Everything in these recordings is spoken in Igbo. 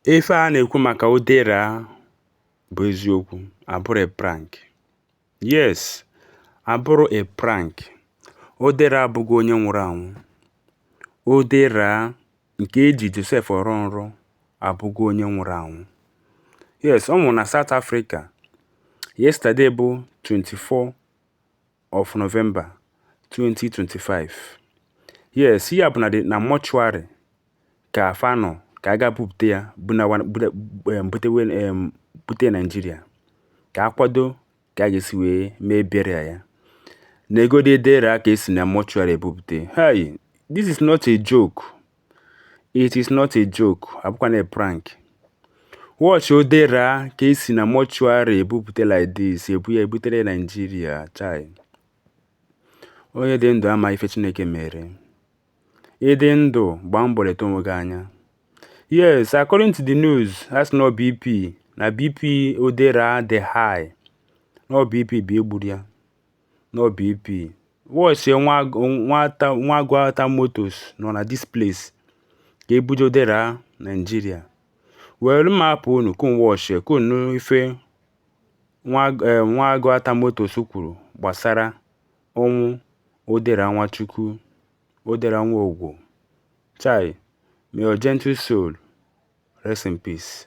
Ife a na-ekwu maka Odera bụ eziokwu, abụrọ a prank. Yes, abụrọ a prank. Odera abụgo onye nwụrụ anwụ. Odera nke eji Joseph ọrọ nrọ abụgo onye nwụrụ anwụ. Yes, ọ nwụrụ na South Africa yesterday bụ 24 of November 2025. Yes, ihe a bụ na dị na mortuary ka fa nọ ka a ga bupụta ya bunawa bute em, butewe em, bute Naijiria ka a kwado ka a ga-esi wee mee burial ya neegodi Odera ka esi na mortuary ebupụta hey this is not a joke It is not a joke, abụkwana a prank. Watch Odera ka esi na mortuary ebupute like this, ebu ya ebutere Nigeria, chai. Onye dị ndụ ama ife Chineke mere. Ị dị ndụ gbaa mbọ leta onwe gị anya. Yes, according to the news, a sị na ọ BP. Na BP Odera dị high. Na ọ BP bụ ihe gburu ya. na ọ bp watchie nwa nwa ta nwa Aguata Motors nọ na this place ka ebuje odera nigeria were m hapụ unu ka unu watchie ka unu nụ ife nwa eh, nwa Aguata Motors kwuru gbasara ọnwụ odera nwachukwu odera Nwobu chai may your gentle soul rest in peace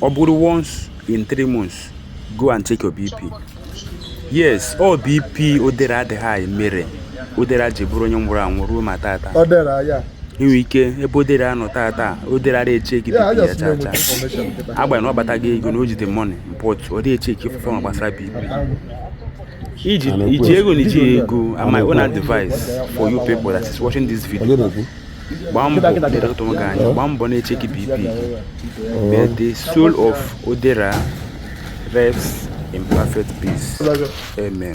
ọ bụrụ once in three months go and check your bp yes ọ bp odera dị high mere odera ji bụrụ onye nwụrụ anwụ ruo ma tata inwe ike ebe odera nọ tata odera ara echeki bp ya chaa chaa agbanyeghị na ọ kpatago ego na o ji the money but ọ dị echeki ife ma gbasara bp iji ego na iji ego ama one advice for you people that is watching this video gbaa mbọ lekọta onwe gị anya gbaa mbọ na-echeki bp but the soul of odera rests in perfect peace amen